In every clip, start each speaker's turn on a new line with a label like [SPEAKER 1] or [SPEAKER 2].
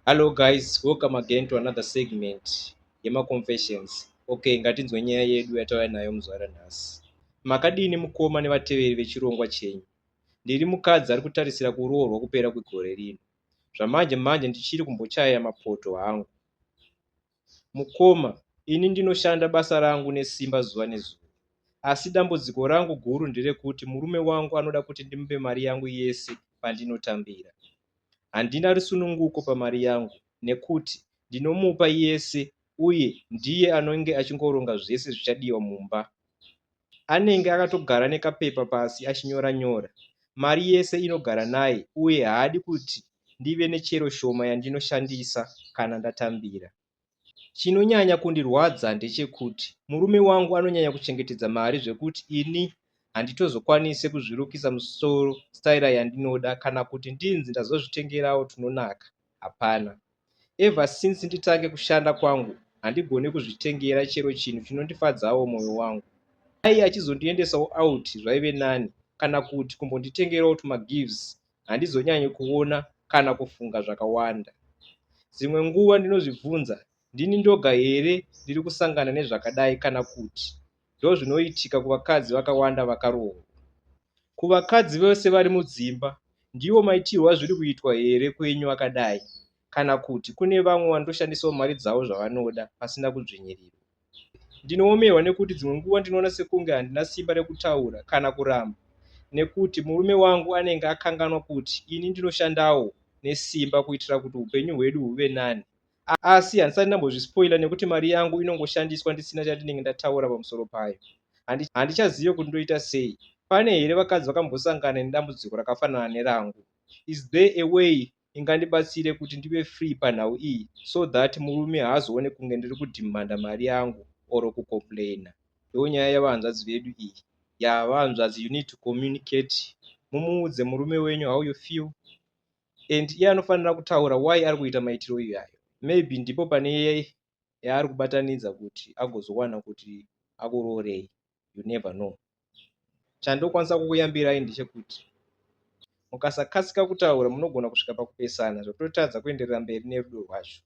[SPEAKER 1] Hello guys, welcome again to another segment yemaconfessions. Okay, ngatinzwe nyaya yedu yatauya nayo muzvara nhasi. Makadini mukoma nevateveri vechirongwa chenyu? Ndiri mukadzi ari kutarisira kuroorwa kupera kwegore rino. Zvamanje manje ndichiri kumbochaya mapoto hangu. Mukoma, ini ndinoshanda basa rangu nesimba zuva nezuva. Asi dambudziko rangu guru nderekuti murume wangu anoda kuti ndimupe mari yangu yese pandinotambira. Handina rusununguko pamari yangu nekuti ndinomupa yese uye ndiye anenge achingoronga zvese zvichadiwa mumba. Anenge akatogara nekapepa pasi achinyora nyora. Mari yese inogara naye uye haadi kuti ndive nechero shoma yandinoshandisa kana ndatambira. Chinonyanya kundirwadza ndechekuti murume wangu anonyanya kuchengetedza mari zvekuti ini handitozokwanise kuzvirukisa musoro staira yandinoda kana kuti ndinzi ndazozvitengerawo tunonaka hapana. Ever since nditange kushanda kwangu handigone kuzvitengera chero chinhu chinondifadzawo mwoyo wangu. Dai achizondiendesawo out zvaive nani kana kuti kumbonditengerawo tumagifts handizonyanyi kuona kana kufunga zvakawanda. Dzimwe nguva ndinozvibvunza, Ndini ndoga here ndiri kusangana nezvakadai kana kuti ndozvinoitika kuvakadzi vakawanda vakaroorwa? Kuvakadzi vose vari mudzimba, ndiwo maitirwo azviri kuitwa here kwenyu akadai kana kuti kune vamwe vanotoshandisawo mari dzavo zvavanoda pasina kudzvinyirirwa? Ndinoomerwa nekuti dzimwe nguva ndinoona sekunge handina simba rekutaura kana kuramba nekuti murume wangu anenge akanganwa kuti ini ndinoshandawo nesimba kuitira kuti upenyu hwedu huve nani. Asi handisati ndambozvispoila nekuti mari yangu inongoshandiswa ndisina chandinenge ndataura pamusoro payo. Handichazive kuti ndoita sei. Pane here vakadzi vakambosangana nedambudziko rakafanana nerangu? Is there a way ingandibatsire kuti ndive free panhau iyi so that murume haazoone kunge ndiri kudhimanda mari yangu or kucomplaina ndonyaya yevahanzvadzi vedu iyi ya vahanzvadzi you need to communicate mumuudze murume wenyu how you feel and iye anofanira kutaura why ari kuita maitiro iyayo maybe ndipo pane yaari kubatanidza kuti agozowana kuti akuroorei you never know chandokwanisa kukuyambirai ndechekuti mukasakasika kutaura munogona kusvika pakupesana zvototadza kuenderera mberi nerudo rwacho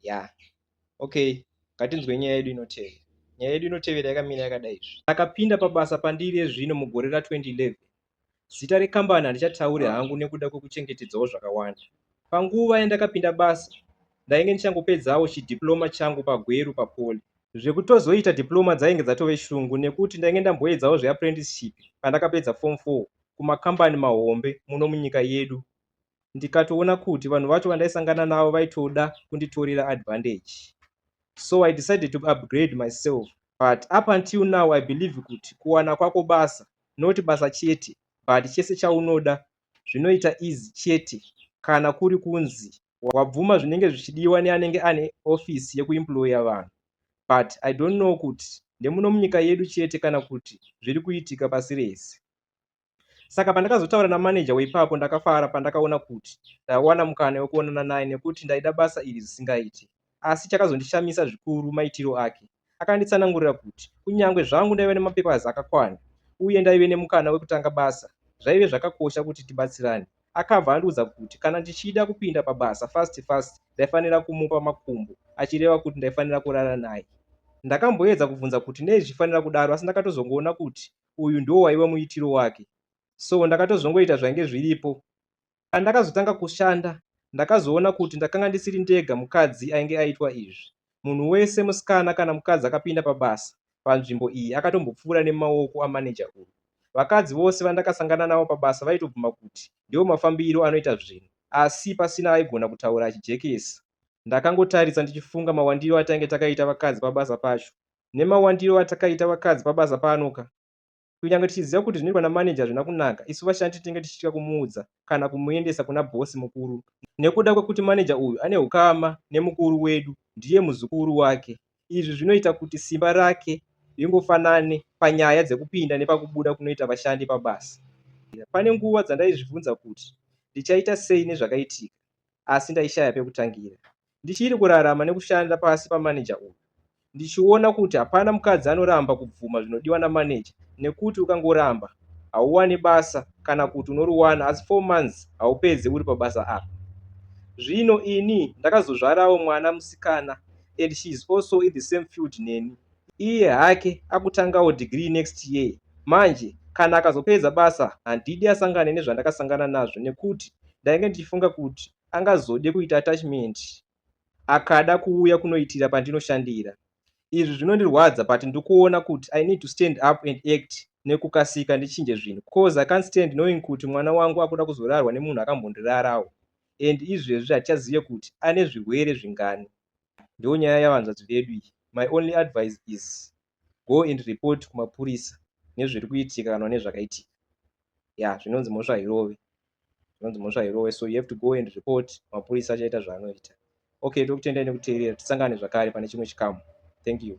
[SPEAKER 1] ya yeah. okay ngatinzwe nyaya yedu inotevera nyaya yedu inotevera yakamira yakadai izvi akapinda pabasa pandiri ezvino mugore ra 2011 Zita rekambani handichataure hangu nekuda kwekuchengetedzawo zvakawanda. Panguva yandakapinda basa, ndainge ndichangopedzawo chidiploma changu paGweru paPoly. Zvekutozoita diploma dzainge dzatove shungu nekuti ndainge ndamboedzawo zveapprenticeship pandakapedza form 4 kumakambani mahombe muno munyika yedu ndikatoona kuti vanhu vacho vandaisangana navo vaitoda kunditorera advantage so i decided to upgrade myself but up until now i believe kuti kuwana kwako basa not basa chete but chese chaunoda zvinoita easy chete kana kuri kunzi wabvuma zvinenge zvichidiwa neanenge ane office yekuemployer vanhu but i don't know kuti ndemuno munyika yedu chete kana kuti zviri kuitika pasi rese saka pandakazotaura namanager weipapo ndakafara pandakaona kuti ndawana mukana wekuonana naye nekuti ndaida basa iri zvisingaiti Asi chakazondishamisa zvikuru maitiro ake. Akanditsanangurira kuti kunyange zvangu ndaiva nemapepers akakwana uye ndaive nemukana wekutanga basa, zvaive zvakakosha kuti tibatsirane. Akabva andiudza kuti kana ndichida kupinda pabasa fast fast ndaifanira kumupa makumbo, achireva kuti ndaifanira kurara naye. Ndakamboedza kubvunza kuti nei zvichifanira kudaro asi ndakatozongoona kuti uyu ndiwo waive muitiro wake. So ndakatozongoita zvainge zviripo. Pandakazotanga kushanda, ndakazoona kuti ndakanga ndisiri ndega mukadzi ainge aitwa izvi. Munhu wese, musikana kana mukadzi akapinda pabasa panzvimbo iyi akatombopfuura nemaoko amaneja uyu. Vakadzi vose vandakasangana navo pabasa vaitobvuma kuti ndiwo mafambiro anoita zvinhu asi pasina aigona kutaura achijekesa. Ndakangotarisa ndichifunga mawandiro atainge takaita vakadzi pabasa pacho. Nemawandiro atakaita vakadzi pabasa panoka, Kunyange tichiziva kuti zvinoitwa namanager hazvina kunaka, isu vashandi tinenge tichitya kumuudza kana kumuendesa kuna boss mukuru nekuda kwekuti manager uyu ane hukama nemukuru wedu, ndiye muzukuru wake. Izvi zvinoita kuti simba rake ringofanane panyaya dzekupinda nepakubuda kunoita vashandi pabasa. Pane nguva dzandaizvibvunza kuti ndichaita sei nezvakaitika asi ndaishaya pekutangira. ndichiri kurarama nekushanda pasi pamaneja uyu ndichiona kuti hapana mukadzi anoramba kubvuma zvinodiwa namaneja nekuti ukangoramba hauwani basa kana kuti unoriwana asi four months haupedze uri pabasa apa zvino ini ndakazozvarawo mwana musikana and she is also in the same field neni iye hake akutangawo degree next year manje kana akazopedza basa handidi asangane nezvandakasangana nazvo nekuti ndainge ndichifunga kuti angazode kuita attachment akada kuuya kunoitira pandinoshandira. Izvi zvinondirwadza but ndikuona kuti I need to stand up and act nekukasika ndichinje zvinhu cause I can't stand knowing kuti mwana wangu akuda kuzorarwa nemunhu akambondirarawo and izvezvi hatichazive kuti ane zvirwere zvingani. Ndonyaya yavanzvadzi vedu iyi. My only advice is go and report kumapurisa nezviri kuitika kana une zvakaitika ya zvinonzi mhosva hairove zvinonzi mhosva hairove so you have to go and report mapurisa achaita zvaanoita okay tokutendai nekuteerera tisangane zvakare pane chimwe chikamu thank you